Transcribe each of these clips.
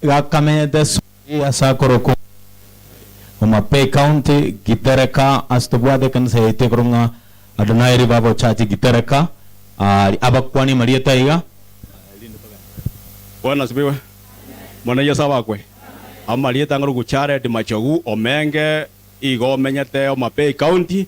Gakamenyete Suri ase akorwa Kumi, Homa Bay County, Gitereka, ase tobwate ekanisa yaito ekorwa ng'a Adonai Revival Church Gitereka, aaria abakwane amarieta aiga. Bwana asifiwe Omwana Yeso abakwe. Amarieta ng'orwa Jared Machogu Omenge igo omenyete Homa Bay County.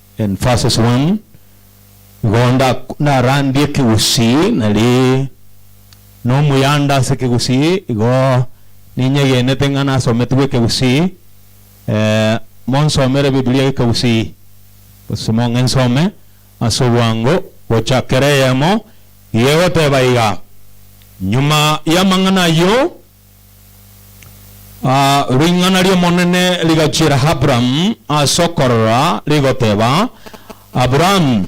In verses one, Igo nda narandie ekegusii, nari nomuyanda ase ekegusii, igo ninyegenete ng'a nasometigwe ekegusii, eh, monsomere Bibilia gekegusii, gose mong'e nsome ase obwango gocha kera eyemo, igo egoteba iga, Nyuma y'amang'ana ayio, Ah, ring'ana ri'Omonene rigachiera Abramu ase okorora, rigoteba, Abramu,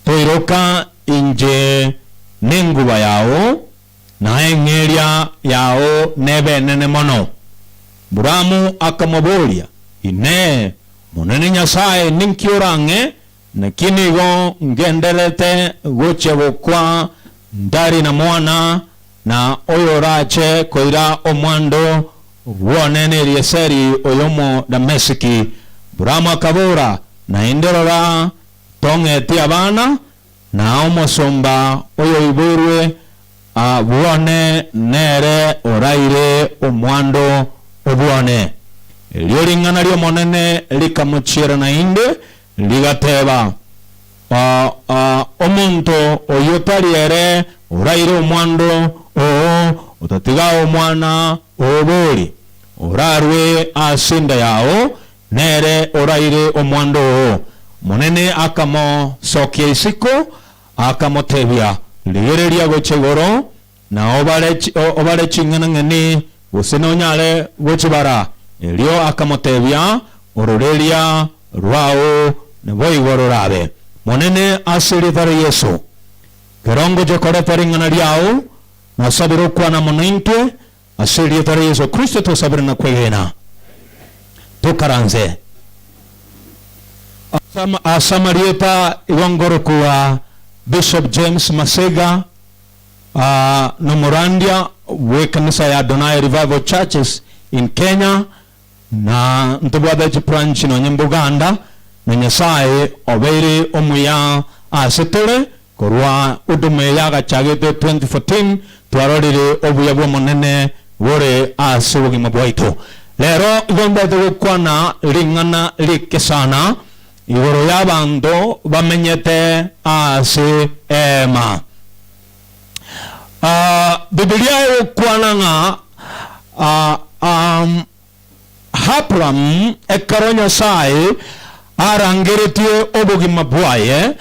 toiroka inche nenguba yao, na eng'eria yao nebe enene mono. Abramu akamoboria, Inee, Omonene Nyasae, ninki orang'e? Naki nigo ngendererete gochia gokwa ntari na mwana, na oyorache koira omwando bw'one n'Elieseri oy'Omodamesiki. Buramu akabora, Naende rora, tong'etie abana, na omosomba oyoiborwe bw'one nere oraire omwando o bw'one. Erio ring'ana ri'Omonene rikamochiera naende, Rigateba, Omonto oyio tari ere oraire omwando oo otatiga omwana obori orarue as'enda yao, nere oraire omwando oo. Omonene akamosokia isiko, akamotebia, Rigereria gocha igoro, na obare chi- o- obare ching'enang'eni, gose nonyare gochibara. Erio akamotebia, Ororeria rwao naboigo rorabe, Monene, ase erieta ria Yesu. Ekero ngochia koreta ring'ana riao, nasabire okwana amo naintwe, ase erieta ria Yesu Kristo twasabire na kwegena. Tokaranse. Ase ama- ase amarieta igo ngorokigwa Bishop James Masega. Aa nomorandia bw'ekanisa ya Adonai Revival Churches in Kenya na ntobwate chibranch nonye mbuganda, na Nyasaye obeire omuya ase tore, korwa huduma eye agachagete 2014 twarorire obuya bw'Omonene bore ase obogima bwaito. Rero igo mbete gokwana ring'ana ri'ekesana, Igoro y'abanto bamenyete ase eema. Bibilia egokwana ng'a Abraham ekero Nyasae arangeretie obogima bwaye,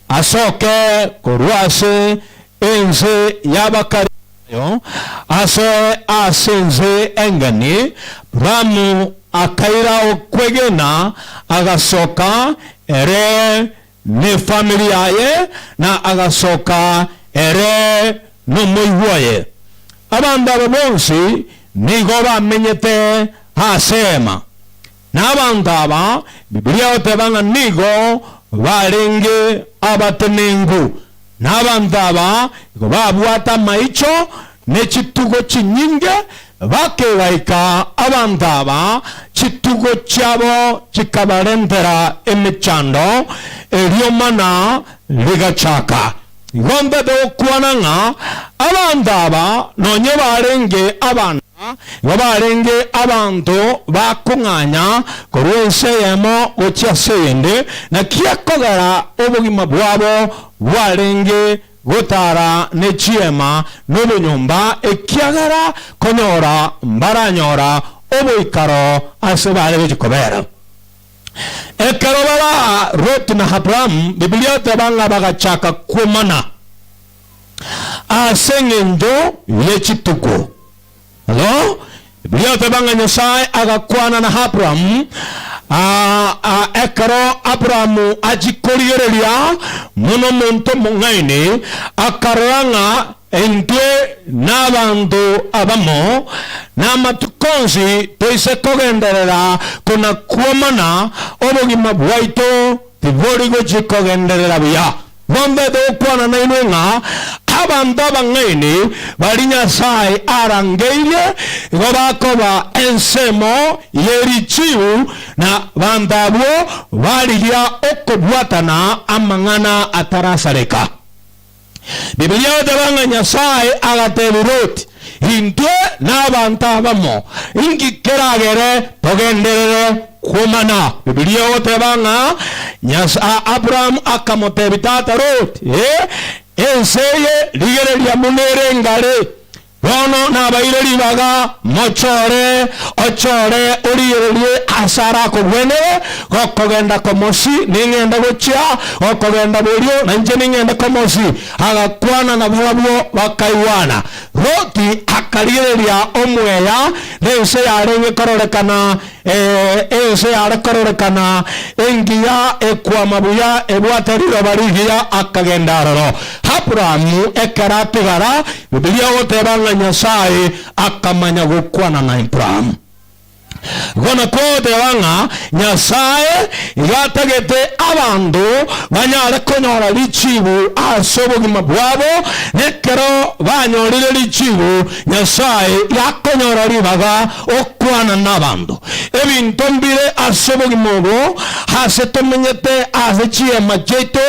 asoke korwa ase ense y'abakare. Oyo ase ase ense engeni, Ramu akaira okwegena, agasoka, ere nefamiri yaye, na agasoka ere nomoigwa oye. Abanto aba bonsi nigo bamenyete ase eema. Na abanto aba, Bibilia egoteba ng'a nigo barenge abatenenku, na abanto aba nigo babwate amaicho ne chitugo chinyinge, bakegaika abanto aba chitugo chiabo chikabarentera emechando, erio mana rigachaka. Nigo ntete gokwana ng'a abanto aba nonye barenge abana, igo barenge abanto ba kong'anya korwa ense eyemo gochia ase eyende, naki ekogera obogima bwabo bwarenge gotara ne chiema nobonyomba, ekiagera konyora mbaranyora oboikaro ase bare gochia kobera. Ekero bare aa, Ruth na Abraham, Bibilia eteba ng'a bagachaka kwomana ase engencho ye chituko. Bono, Bibilia eteba ng'a Nyasae agakwana na Abraham aa ekero Abraham achia korigereria buna omonto omong'aini, akarora ng'a Intwe nabanto abamo, na amatuko onsi toise kogenderera kona-kwomana, obogima bwaito tibori gochia kogenderera buya. Mombaete gokwana nainwe ng'a abanto abang'aini baria Nyasae arangeirie igo bakoba ensemo ye richiu, na abanto abwo barigia okobwatana amang'ana atarasareka. Bibilia egoteba ng'a Nyasae agatebia Loti, Intwe nabanto abamo, inki keragere togenderere kwomana? Bibilia egoteba ng'a Nyasa Abraham akamotebia tata Loti, Ee, ense eye rigereria buna ere ngare, Bono nabaeire ribaga, mochore, ochore origererie aase arakogwenere, gokogenda komosi ning'ende gochia, gokogenda borio nainche ning'ende komosi. Agakwana na barabwo, bakaigwana. Loti akarigereria omweya, nense yarenge kororekana Ee, ense yare kororekana engiya ekwama buya ebwate riroba rigiya akagenda aroro. Aburaamu ekero atigara, Bibilia egoteba ng'a Nyasae akamanya gokwana na Aburaamu. Igo nakwo ogoteba ng'a Nyasae igo atagete abanto banyare konyora richiibu ase obogima bwabo, na ekero banyorire richiibu Nyasae gakonyora ribaga gokwana nabanto. Ebinto mbire ase obogima obo, aase tomenyete, aase chiema chiaito,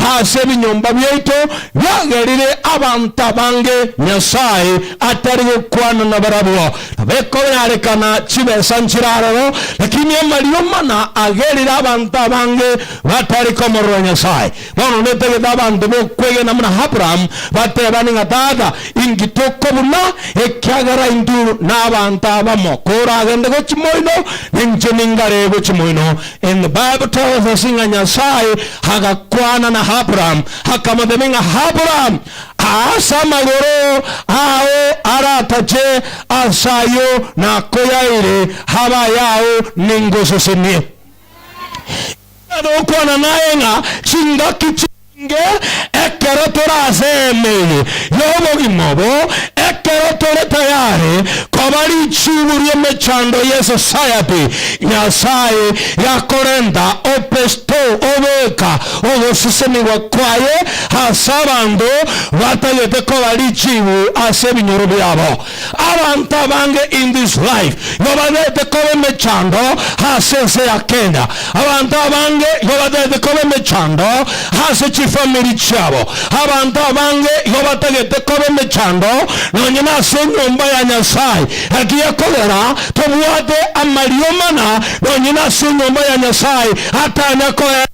aase ebinyomba biaito, biagerire abanto abange Nyasae atari gokwana nabarabwo. Nabekobearekana chibesa nchire aroro, lakini amariomana agerire abanto abange batari komorora Nyasae. Bono netagete abanto bokwegena buna Abraham batebane ng'a, Tata, inki tokobuna, ekiagera intwe nabanto abamo, koragende go chimoino, ninche ningare go chimoino? And the Bible tells us ng'a Nyasae agakwana na Abraham, akamotebia ng'a, Abraham, aase amagoro ao aratache ase ayio nakoyaeire abe ayao, ningosesenie. Nigo okwana naye ng'a chingaki chi'nge ekero tore ase eema eye y'obogima obo, ekero tore tayare koba richiibu ri'emechando ye society Nyasae yakorenta Opesto obeka ogosesenigwa kwaye ase abanto batagete koba richiibu ase ebinyoro biabo. Abanto abange in this life igo bataete koba emechando ase ense ya Kenya. Abanto abange igo bataete koba emechando ase chifamiri chiabo. Abanto abange igo batagete koba emechando nonye nase enyomba ya Nyasae. Ekiya kogera tobwate amariomana nonye nase enyomba ya Nyasae atanya koe.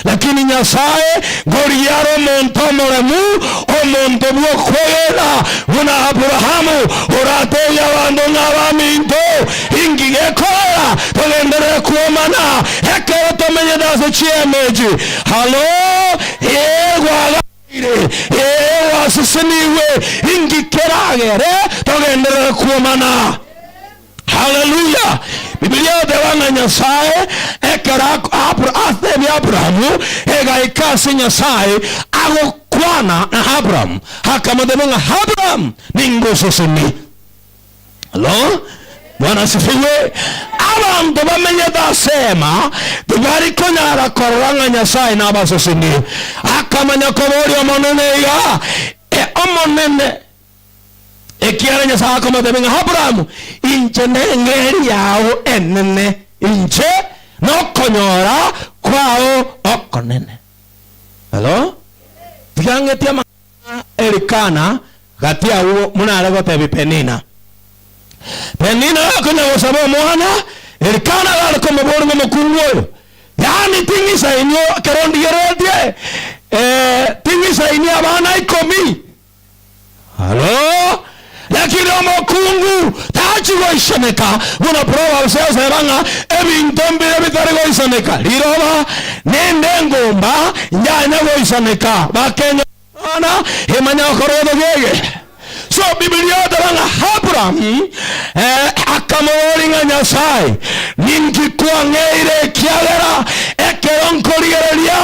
Lakini Nyasae, ngorigia are omonto omoremu, omonto bw'okwegena, buna Aburaamu, orateebie abanto ng'a, Abaminto, inki gekorera togenderere kwomana ekero tomenyete ase chi'emechi? Halo, ee, gwaganeire, ee, gwasesenigwe, inki keragere togenderere kwomana? Hallelujah! Bibilia egoteba ng'a Nyasae ekero Abra atebia Abrahamu egaika ase Nyasae agokwana na Abraham akamotebia ng'a Abraham ningoseseni. Hello? Bwana asifiwe. Abanto bamenyete ase ema tibari konyara korora ng'a Nyasae nabaseseni. Akamanya koboria Omonene iga, E Omonene, Ekiagera Nyasae akomotebia ng'a Aburaamu, inche neng'eria yao enene, inche nokonyora kwao okonene. Hello? Tiga ng'etie amang'ana a Elikana gati agwo buna are gotebia Penina. Penina gakonya gosaba omwana, Elikana gare komoboria ng'a omokungu oyo, yaani ting'isa inwe ekero ndigeretie, ee, ting'isa inwe abana ikomi, Halo! Lakini omokungu tachi goisaneka, buna Proverbs esera ng'a ebinto mbire bitari goisaneka, riroba, nende engumba yanya goisaneka, bakenya Bwana imanya okorotha gege. So Bibilia eteba ng'a Abraham eh, akamoboria ng'a Nyasae, ninki kwang'eire ekiagera ekero nkorigereria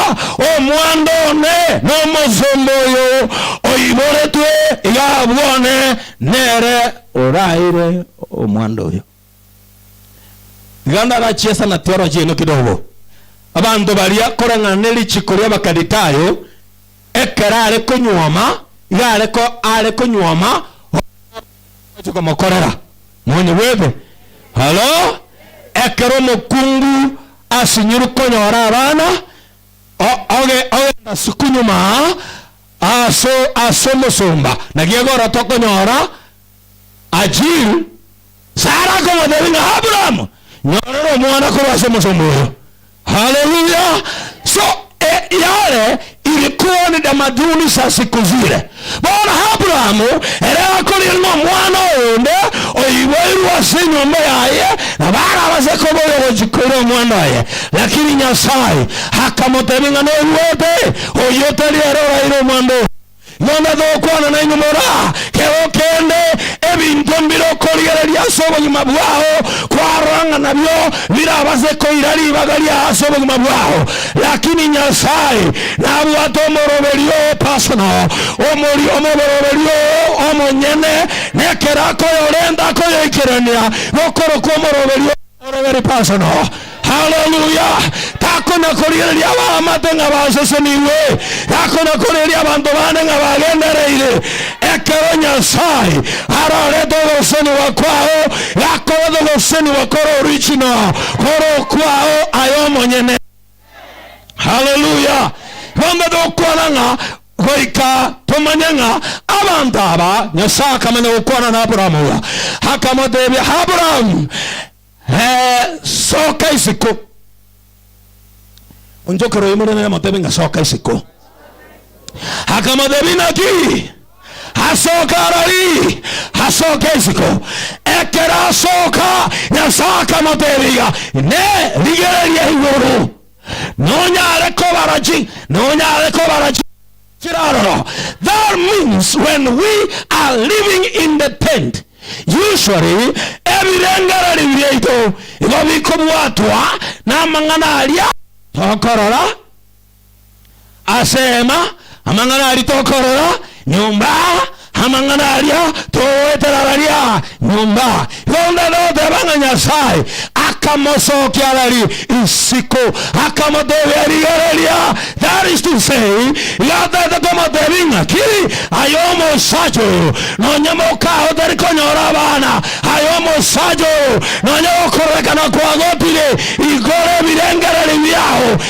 Omwando one nomosomba oyo oiboretwe iga abwo one nere oraeire omwando oyo. Iga ndagachiesa na tioro chiaino kidogo. Abanto baria koreng'ana ne richiko ria Abakalitayo, ekero are konyuoma, iga are ko are konyuoma, omochie Ogochia komokorera moni bwebe. Halo, ekero omokungu asinyiru konyora abana, o, oge, ogenda siku nyuma ase, ase omosomba, na giago ororo tokonyora Ajil, Sara akomotebia ng'a, Abraham, nyorera omwana korwa ase omosomba oyo. Haleluya! So e yare iri koni damaduni sa siku zire. Bono Aburaamu ere akorire nomwana oyonde oiboirwe ase enyomba yaye, na barabase koba oyogochia koira omwana oye. Lakini Nyasae akamotebia ng'a noruote oyio tari ere oraire omwando oria. Nonya togokwana nainwe buna kero kende, ebinto mbire okorigereria ase obogima bwao kwarora ng'a nabio birabase koira ribaga riao ase obogima bwao. Lakini Nyasae nabwate omoroberio oo personal, omori omoboroberio oo omonyene, na ekero akoyorenta akoyoikerania gokorokwa omoroberio oo. Ore very personal. Haleluya! Takona korigereria abaamate ng'a basesenigwe, takona korigereria abanto bande ng'a bagendereire. Ekero Nyasae arorete ogosesenigwa kwao, gakorete ogosesenigwa kore original, kore okwao aye omonyene. Haleluya! Bono tokwana ng'a goika tomanye ng'a abanto aba Nyasae akamanya gokwana na Aburaamu oyo, akamotebia, Aburaamu, ee, soka isiko. Onchokere oimore naye amotebe ng'a soka isiko. Akamotebia, Inaki? Asoke arori asoke isiko. Ekero asoka Nyasae akamotebiga, Ne rigereria igoro, nonyare kobara chi nonyare kobara chi chire aroro That means when we are living in the tent usually ebirengererio biaito igo bikobwatwa namang'ana aria tokorora. Ase hema amang'ana aria tokorora, nyomba amang'ana aria togoetera raria, nyomba. Igo onde noteba ng'a Nyasae akamosokia rari isiko, akamotebia rigereria, that is to say, iga ataete komotebia ing'aki, aye omosacha oyo nonye mokao otari konyora abana, aye omosacha oyo nonye gokororekana kwa gotire igoro ebirengereri biao,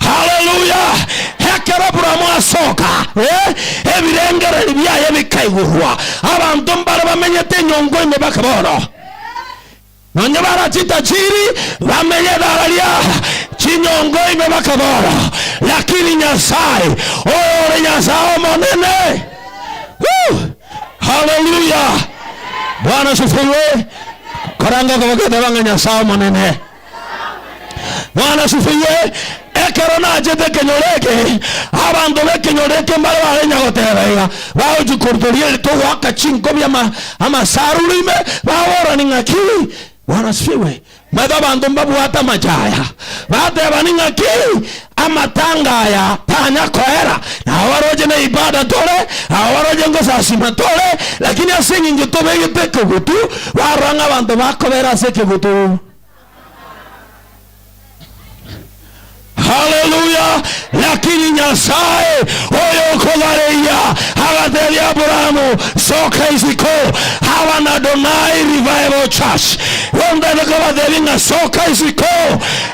Haleluya! Ekero Aburaamu asoka, eh, ebirengereri biaye bikaigurwa. Abanto mbare bamenyete enyongo ime bake bono. Nonye bara chitajiri bamenye edara ria chinyongo ime bake bono. Lakini Nyasae, oyo ore Nyasae omonene. Woo! Haleluya! Bwana asifiwe. Koranga kobagenda bang'a Nyasae omonene. Bwana asisiwe. Ekero nachete ekenyoro eke, abanto b'ekenyoro eke mbare barenya goteba iga, Bagochia korutoria ere togoaka chinkobi ama, amasarura ime, baborani ng'aki? Bwana asisiwe. Mbaete abanto mbabwate amache aya, batebani ng'aki? Amatanga aya tanya koera, na abaroche na ibada tore, abaroche ngosasima tore, lakini ase engencho tobegete ekegutu, barora ng'a abanto bakobera ase ekegutu. Haleluya! Lakini Nyasae oyokobareia agatebia Aburaamu, Soka isiko, aba n'Adonai Revival Church. Gontete kobatebie ng'a soka isiko,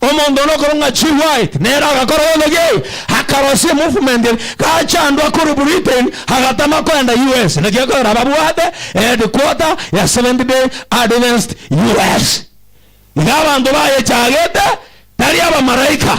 Omonto one okorong'a chiwaet nere agakora obothegi, akarosia emofumenti ere gachandwa korwa Britain agatama koenda US. Naki ekogera babwate eheadquarter ya Seventh Day Adventist US. Iga abanto bayechagete tari abamalaika.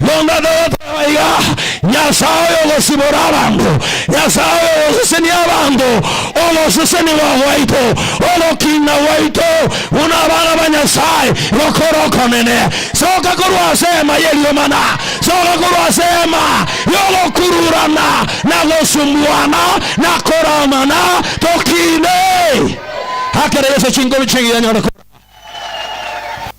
Monto oyotoe aiga, Nyasae oyogosibora abanto, Nyasae oyogosesenia abanto, ogosesenigwa gwaito, ogokiina gwaito buna abana ba Nyasae, gokore okonene. Soka korwa ase eema y'eriomana, soka korwa ase eema y'ogokururana na gosumbuana na koramana, tokiine. Ekero Yeso chinguru chigiya nyore korama.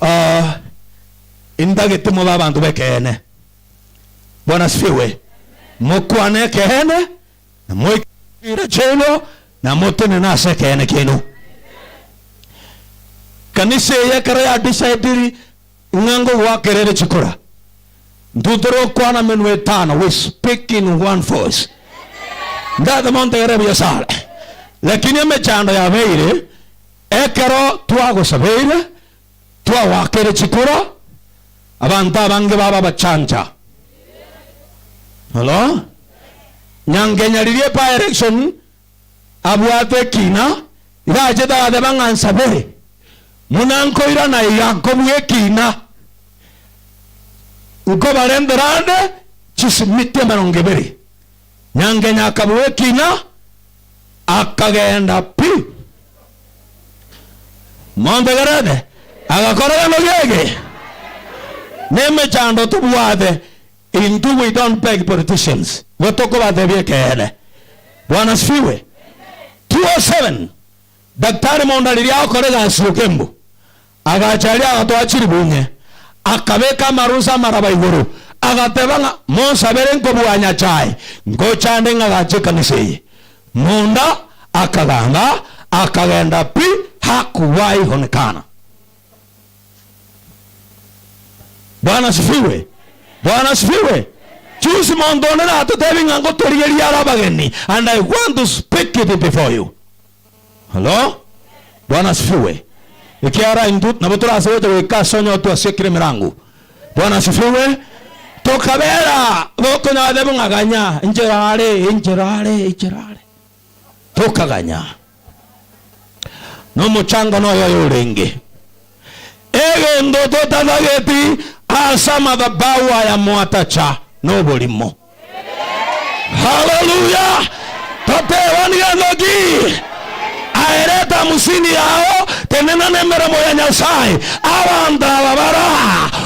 Ah, intagete mobe abanto b'ekeene. Bwana asifiwe. Mokwane ekeene, na moike chira chiaino, na motenene ase ekeene kiaino. Kanisa eye ekero ya decidiri Ng'a ngogoakera ere chikora intwe tore okwana emenwa etano we speak in one voice ndate monto yare buya sare lakini emechando yabeire ekero twagosabeire twagoakere chikora abanto abange baba abachancha Hello? Nyanga enyaririe by election abwate ekina, iga achete agateba ng'a nsabere, buna nkoirana iga nkobua ekina, nkobarentera ande chisimiti emerongo ebere. Nyangenya akabua ekina, akagenda pi. Montegerete? Agakora gento geke. Nemechando tobwate. Intwe we don't beg politicians igo tokobatebia ekeene. Bwana asifiwe. 207 Daktari Mounda riria agokora egasi y'okembu, agacha aria agatoa chiribuunye, akabeka amarusa amaraba igoro, agateba ng'a, Monsabere nkobua Nyasae ngochande ng'agache ekanisa eye. Mounda akagamba, akagenda pi, hakuwaihonekana. Bwana asifiwe! Bwana asifiwe! Juzi monto onde natotebi ng'a ngotorigerie are abageni and I want to speak it before you. Hello? Bwana asifiwe! Ekiara intwe nabo tore ase gocha goika ase onye otwasiekire emerango. Bwana asifiwe! Tokabera, bokonyora tebe ng'a ganya, enchera are, enchera are, enchera are. tokaganya, nomochando noyo oyorenge, egento totatageti ase amathabau aya mwatacha noborimo. Haleluya! Totebani gento ki? Aerete hamsini yao, tenena nemeremo ya Nyasaye. Abanto aba bara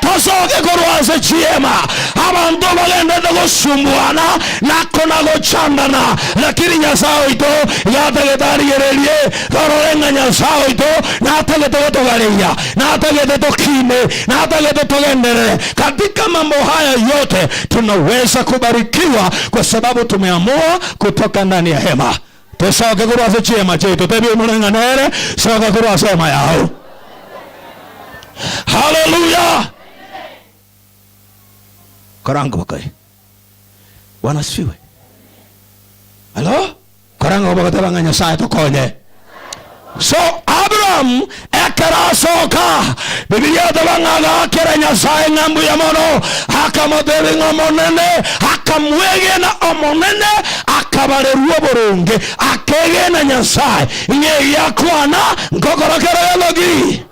Tosoke korwa ase chiema, abanto bagenderete gosumbuana na kona-gochandana, lakini Nyasae oito gatagete arigererie. Torore ng'a Nyasae oito natagete gotogareyia, natagete tokiine, natagete togenderere. Katika mambo haya yote tunawesa kubarikiwa kwa sababu tumeamua kutoka ndani ya hema. Tosoke korwa ase chiema chiaito, tebia oimore ng'a nere, soka korwa ase ema yao. Haleluya! Koranga obokae. Bwana asifiwe. Halo? Koranga obogote bang'a Nyasae tokonye. So Abrahamu ekero asoka, Bibilia eteba ng'a agaakera Nyasae ng'a mbuya mono, akamotebia ng'a Omonene, akamwegena Omonene, akabarerwa oboronge, akegena Nyasae, ng'a egiakwana nkogora kera gento ki.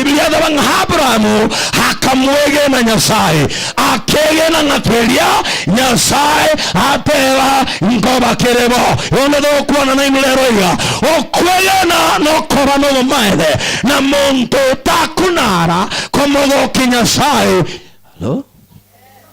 Ebiria akaba ng'a Abrahamu akamwegena Nyasae, akegena ng'a keria Nyasae ateeba nkoba kere bo. Onde togokwana nainwe rero iga, okwegena nokoba nobomaene, na monto takuna ara komogokia Nyasae. Halo.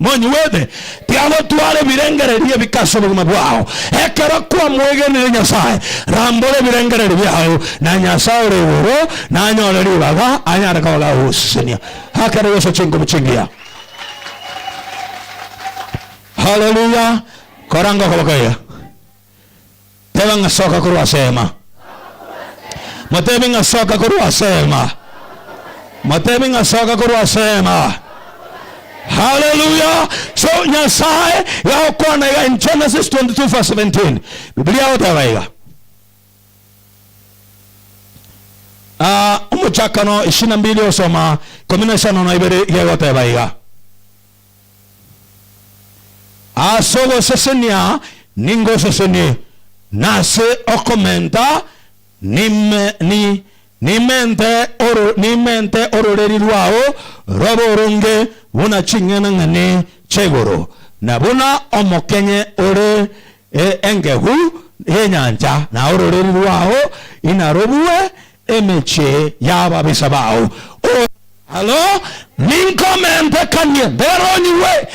Monyuete, tiagotwara ebirengererio ebi ase obogima bwao. Ekero kwamwegenire Nyasae, rambora ebirengererio biao, na Nyasae ore igoro nanyore ribaga anyare koba gagogosesenia akare gocha chinkubi chingiya. Haleluya! Koranga okoboko iga. Teba ng'a soka korwa ase eema. Motebi ng'a soka korwa ase eema. Motebi ng'a soka korwa ase eema. Haleluya! So Nyasae yagokwana iga in Genesis 22 verse 17. Bibilia yagoteba iga. Ah, omochakano ishirini na mbili osoma ikomi na isano na ibere iga egoteba iga. Ase ogosesenia ningosesenie, na ase okomenta nimente ororeri rwao robe oronge buna ching'enang'eni chi'igoro, na buna omokenye ore engegu y'enyancha, na ororeri rwao inarobue emechie y'ababisa bao, o. Halo, ninkomentekanie nderonyigwe,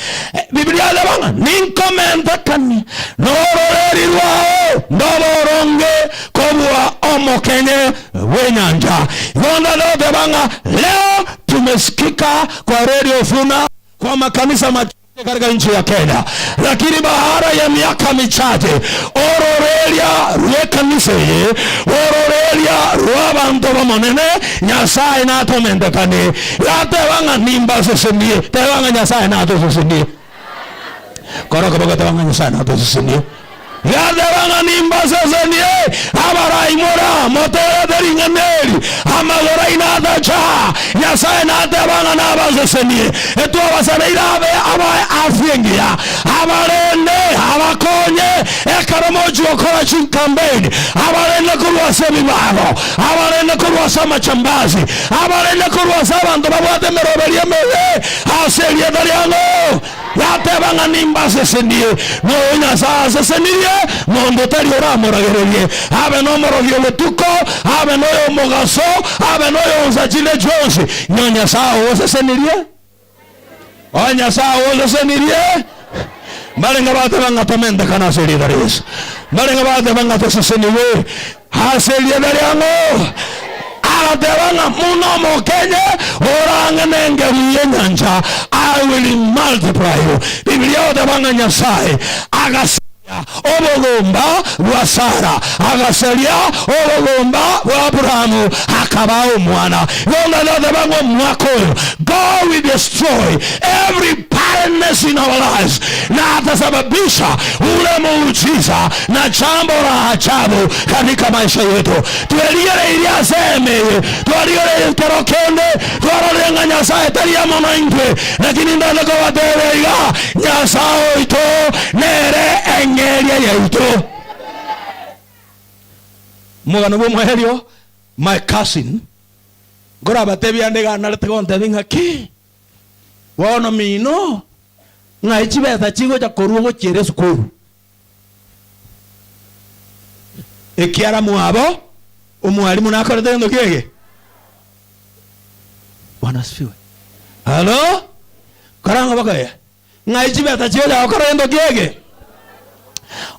Bibilia ereba ng'a ninkomentekanie nororeri rwao ndobe oronge kobua omokenye bw'enyancha. Igo ndare goteba ng'a reo timesikika koreria ofuna kw'amakanisa amachenu. Karga inchi ya Kenya, lakini baada ya miaka michache ororeria rw'ekanisa eye bw'ororeria rw'abanto b'Omonene Nyasae natomentekanie, gateba ng'a nimbasesenie. Teba ng'a Nyasae natosesenie. Kora okoboko teba ng'a Nyasae natosesenie. Yateba ng'a nimbasesenie abaraimora, motoorete ring'ana eri, amagoro aino atacha. Nyasae nateba ng'a nabasesenie, etwabasabeire abe abae afia engiya, abarende abakonye ekero mochia gokora chinkambeini, abarende korwa ase ebibago, abarende korwa ase amachambasi, abarende korwa ase abanto babwate emeroberi emibe ase erieta riango. yateba ng'a nimbasesenie, na oyo Nyasae asesenirie, monto tari oramoragererie abe nomorogi o botuko, abe noyomogaso, abe noyonsa chinde chionsi, ng'a Nyasae ogosesenirie, o Nyasae ogosesenirie. Mbarenge bateba ng'a tomentekana ase riita ria Yesu, mbarenge bateba ng'a tosesenigwe. Ase erieta riang'o? Agateba ng'a buna omokenye orang'e nengeri y'enyancha, I will multiply you. Bibilia egoteba ng'a Nyasae agasaria obogomba bwa Sara, agasaria obogomba bwa Abrahamu, akabaa omwana. Igo ntata goteba ng'a omwaka oyo God will destroy every barrenness in our lives, na atasababisha ule muujiza na chambora chabo kanika maisha yeto. Twerigereirie ase eema eye, twarigereirie kero kende twarorire ng'a Nyasaye tari amo naintwe, naki nindache kobateebia iga, Nyasaye oito nere eng'eria yaito. Omogano bw'omoerio, my cousin, nkorabateebie ande iga narete gonteebia ng'a ki? Bono mino ng'ai chibesa chigocha korwa ogochiera esukuru? ekiara mwabo omwalimu nakorete gento kiege. Bwana asifiwe. Halo. Karango bakoya. Ng'ai chibeta chio chagokora gento kiege.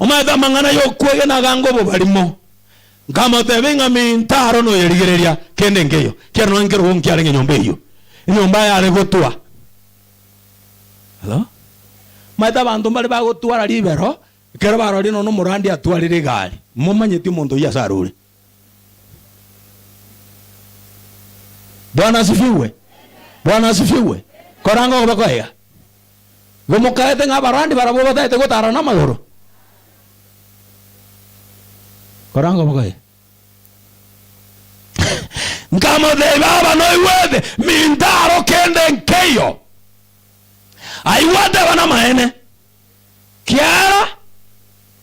Omaete amang'ana yokwegena agango obobarimo. Nkamotebia ng'a minto aro noyerigereria kende nkeyo. Kiaro nonye nkerogo nkiarenge nyomba eyio. Enyomba yare gotwa. Omanyete abanto mbare bagotwara ribero, ekero barorie nonya omorwandi atwarire egari, momanyeti omonto oyio ase arure. Bwana asifiwe, Bwana asifiwe. Koranga okoba kwaiga? Igo mokarete ng'a abarwandi barabwo batagete gotarana amagoro? Koranga okoba kwaiga? Nkamotebia, Baba, noigwete, minto aro kende nkeiyo. Aigwa ateba, Namaene, kiara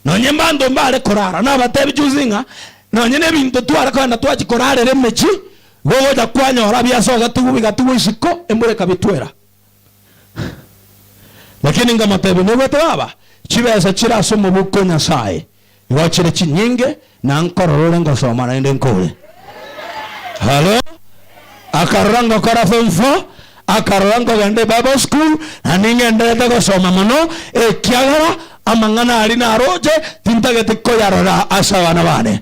nonye mbanto mbare korara. Nabatebi chionsi ng'a nonye nebinto tware kogenda twachia korarera emechie, igo ogocha kwanyora biase ogatigwa bigatigwa isiko, embura ekabitwera. Lakini nkamotebia, Noigwete baba, chibesa chire ase omoboko o Nyasaye. Ngochire chinyinge na nkorora ore ngosoma naende nkore. Halo. Akarora ngokora form four, akarora nkogenda Bible school na ning'enderete gosoma mono ekiagera amang'ana aria naroche tintageti koyarora ase abana bane.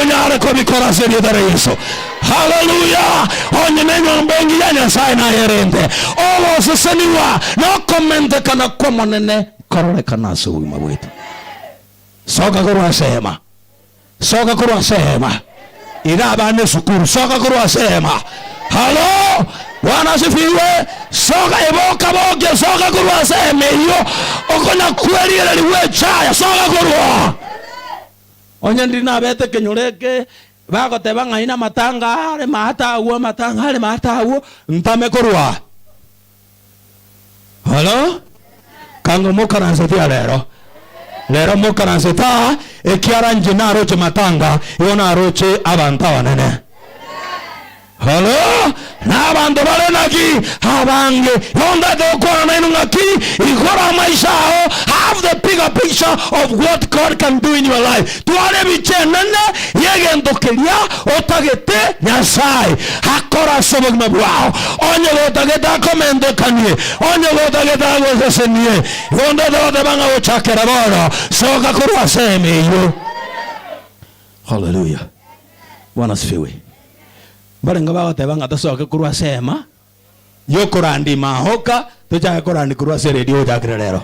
onyare kobikora ase erieta ria Yeso. Haleluya! Onye nenyomba engiya ya Nyasae nayerente, ogosesenigwa na okomentekana kw'Omonene nkororekana ase obogima bwaito. Soka korwa ase eema, soka korwa ase eema. Iga abana esukuru, soka korwa ase eema. Halo! Bwana asifiwe. Soka eboka bokia, soka korwa ase eema eyio. Okonya kwerigereria gwechaya, soka korwa. Onye ndiri nabete ekenyoro eke, bagoteba ng'ai namatanga are maate agwo, amatanga are maate agwo, ntame korwa aa. Halo? Kanga mokaransetie aa rero. Rero mokaransetie aa, ekiara inche naroche matanga, igo naroche abanto abanene. Oro nabanto bare naki abange? Yonda tokwana naino ng'aki igoro amaiso ao have the bigger picture of what God can do in your life twara ebicha enene yegento keria otagete Nyasaye akore ase obogima bwao onye gotagete akomentokanie onye gotagete agosesenie yonda togoteba ng'a gochakera bono soka korwa ase emeiyo Hallelujah! Bwana asifiwe. Mbarenge bagoteba ng'a tosoke korwa ase eema yokorandi maoka tochake korandi korwa ase eredio gochakera rero.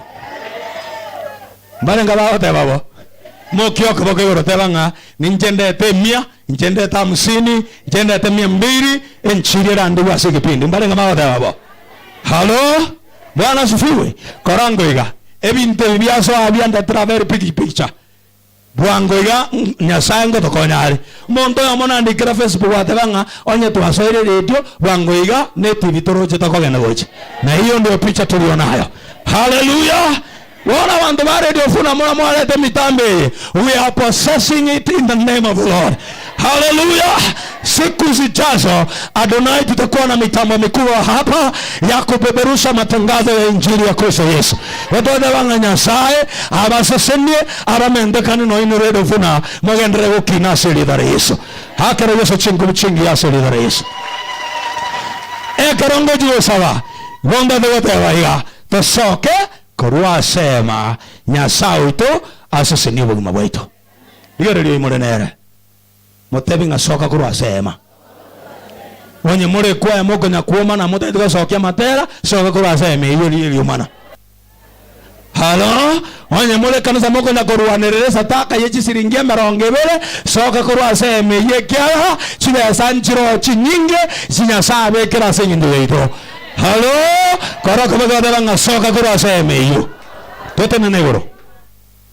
Mbarenge bagoteba bo mokie okoboko igoro teba ng'a ninche ndete emia, inche ndete hamsini, inche ndete mia mbiri enchiri erandigwe ase ekepindi. Mbarenge bagoteba bo. Halo! Bwana asifiwe. Kora ngoiga. Ebinto ebi biasoa biandetera very big picture. Bwango iga Nyasae ngotokonya are. Omonto oyomo naende kera Facebook ateba ng'a onye twasoire eredio, bwango iga ne TV toroche tokogenda gocha. Na eyo ndio picha torio nayo. Haleluya! Bono abanto ba Radio Funa mora mwarete emitambo eye, we are possessing it in the name of the Lord. Haleluya! Siku zijazo Adonai tutakuwa na mitambo mikubwa hapa ya kupeperusha matangazo ya injili ya Kristo Yesu. Gotoeba ng'a Nyasae abasesenie abamentekane noinwe redo buna mogenderere gokina ase erieta ria Yesu. Akero Yesu chinkubi chingiya ase erieta ria Yesu. Ekero ngochia gosaba, ngombete goteba iga, Tosoke korwa ase eema, Nyasae oito, asesenie obogima bwaito. Rigereria oyo more nere, motebi ng'a, Soka korwa ase eema. Onye more kw'eema okonya kw'oma na motagete gosokia amatera, soka korwa ase eema eyio rigereria omana. Halo, onye more ekanisa mokonya korwanerera esadaka ye chisiringi emerongo ebere, soka korwa ase eema eyio ekiagera chibesa nchiroo chinyinge echio Nyasae abekire ase eng'encho yaito. Halo, korokobeka oteba ng'a, Soka korwa ase eema eyio. Totenena igoro.